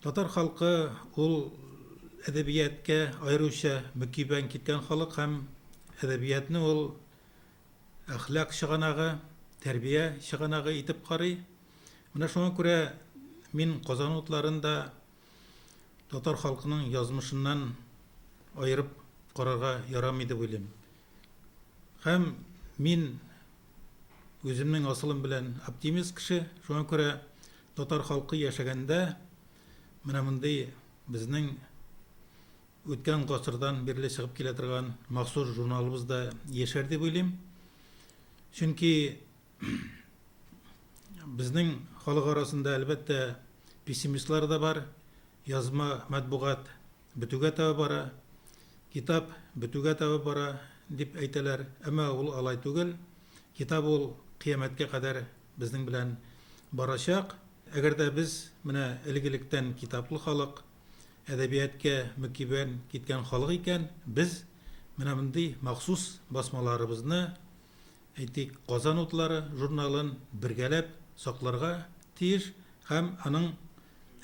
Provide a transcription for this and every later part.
Татар халкы ул әдәбияткә аеруча мөкибән киткән халык һәм әдәбиятны ул әхлак чыганагы, тәрбия чыганагы итеп карый. Менә шуңа күрә мин Казан утларында татар халкының язмышыннан аерып карарга ярамый дип уйлыйм. Һәм мин Үземнең асылым белән оптимист кеше, шуңа күрә татар халкы яшәгәндә менә мондый безнең үткән гасырдан бирле чыгып килә торган махсус журналыбыз да яшәр дип уйлыйм. Чөнки безнең халык арасында әлбәттә пессимистлар да бар, язма матбугат Бетүгә таба бара, китап бетүгә таба бара, дип әйтәләр, әмма ул алай түгел. Китап ул кыямәткә кадәр безнең белән барачак. Әгәр дә без менә элек-электән китаплы халык, әдәбияткә мөкиббән киткән халык икән, без менә мондый махсус басмаларыбызны, әйтик, Казан утлары журналын бергәләп сакларга тиеш һәм аның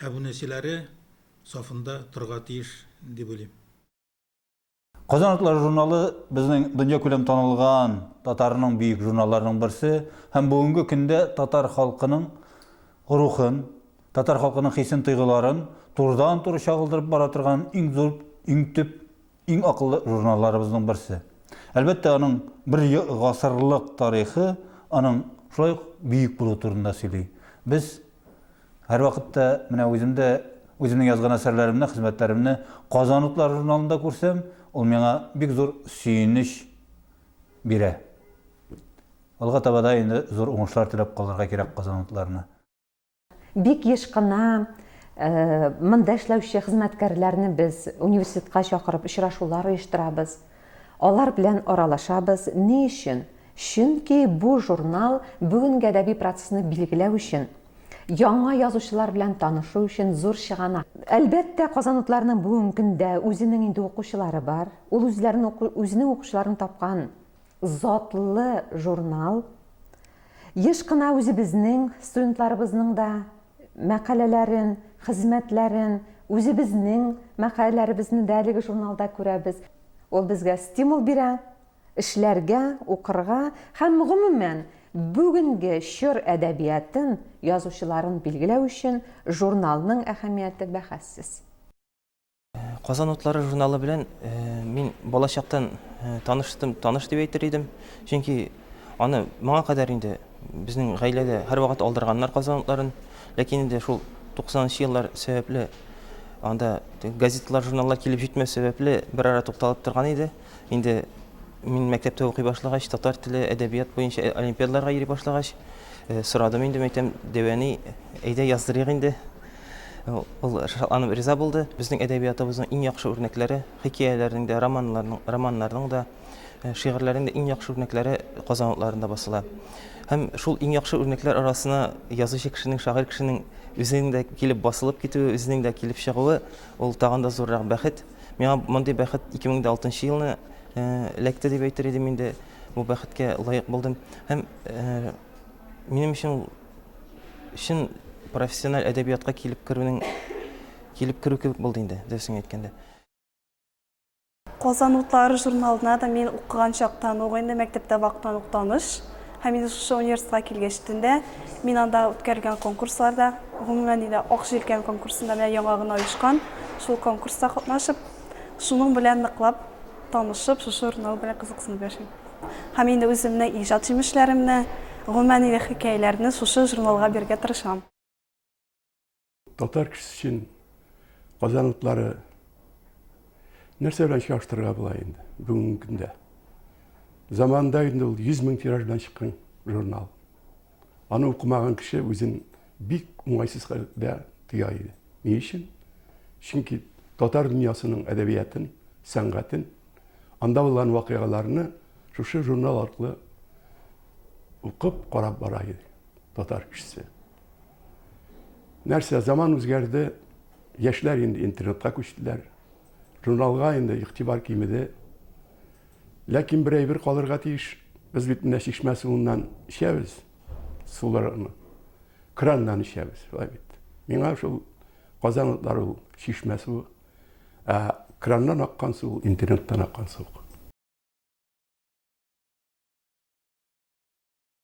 әбүнәчеләре сафында торырга тиеш дип уйлыйм. Казан атлары журналы безнең дөньякүләм танылган татарның бөек журналларының берсе һәм бүгенге көндә татар халкының рухын, татар халкының хисен-тойгыларын турыдан-туры чагылдырып бара торган иң зур, иң төп Иң акыллы журналларыбызның берсе. Әлбәттә, аның бер гасырлык тарихы аның шулай ук бөек булу турында сөйли. Без һәрвакыт та менә үзем дә үземнең язган әсәрләремне, хезмәтләремне Казан утлары журналында күрсәм, ул миңа бик зур сөенеч бирә. Алга таба да инде зур уңышлар теләп калырга кирәк Казан утларына. Бик еш кына монда эшләүче хезмәткәрләрне без университетка чакырып очрашулар оештырабыз. Алар белән аралашабыз. Ни өчен? Чөнки бу журнал бүгенге әдәби процессны билгеләү өчен, яңа язучылар белән танышу өчен зур чыганак. Әлбәттә, казанлыларның бүгенге көндә үзенең инде укучылары бар. Ул үзләрен, үзенең укучыларын тапкан Затлы журнал. Еш кына үзебезнең студентларыбызның да мәкаләләрен, хезмәтләрен, үзебезнең мәкаләләребезне дә әлеге журналда күрәбез. Ул безгә стимул бирә, эшләргә, укырга һәм, гомумән, бүгенге чор әдәбиятын, язучыларын билгеләү өчен журналның әһәмияте бәхәссез. Казан утлары журналы белән э, мин балачактан э, таныштым, таныш дип әйтер идем. Чөнки аны моңа кадәр инде безнең гаиләгә һәрвакыт алдырганнар Казан утларын. Ләкин инде шул 90 еллар сәбәпле анда газеталар, журналлар килеп җитмәс сәбәпле бер ара тукталып торган иде. Инде мин мәктәптә укый башлагач, татар теле, әдәбият буенча олимпиадаларга йөри башлагач, э, сорадым инде мәктәп дәвәни, әйдә яздырыйк инде, Ул шатланып риза булды. Безнең әдәбиятыбызның иң яхшы үрнәкләре, хикәяләрнең дә, романнарның, романнарның да, э, шигырьләрнең дә иң яхшы үрнәкләре Казан утларында басыла. Һәм шул иң яхшы үрнәкләр арасына язучы кешенең, шагыйрь кешенең үзенең дә килеп басылып китүе, үзенең дә килеп чыгуы, ул тагын да зуррак бәхет. Миңа мондый бәхет 2006 елны э, эләкте дип әйтер идем инде. Бу бәхеткә лаек булдым. Һәм э, минем өчен чын профессиональ әдәбиятка килеп керүнең килеп керү кебек булды инде, дөресен әйткәндә. Казан утлары журналына да мин укыган чактан ук инде мәктәптә вактан ук таныш. Һәм инде шушы университетка килгәч тендә мин анда үткәрелгән конкурсларда, гомумән инде Ак җилкән конкурсында менә яңа гына оешкан, шул конкурста катнашып, шуның белән ныклап танышып, шушы журнал белән кызыксынып яшим. Һәм инде үземнең иҗат җимешләремне, гомумән инде хикәяләрне шушы журналга бирергә тырышам. Татар кешесе өчен Казан утлары нәрсә белән чагыштырырга була инде бүгенге көндә? Заманында инде ул 100 мең тираж белән чыккан журнал. Аны укымаган кеше үзен бик уңайсыз хәлдә тоя иде. Ни өчен? Чөнки татар дөньясының әдәбиятын, сәнгатен, анда булган вакыйгаларны шушы журнал аркылы укып, карап бара иде татар кешесе. Нәрсә, заман үзгәрде, яшьләр инде интернетка күчтеләр. Журналга инде игътибар кимеде. Ләкин бер әйбер калырга тиеш, без бит менә чишмә суыннан эчәбез, суларны краннан эчәбез, шулай бит. Миңа шул Казан утлары ул чишмә суы, ә краннан аккан су, интернеттан аккан су.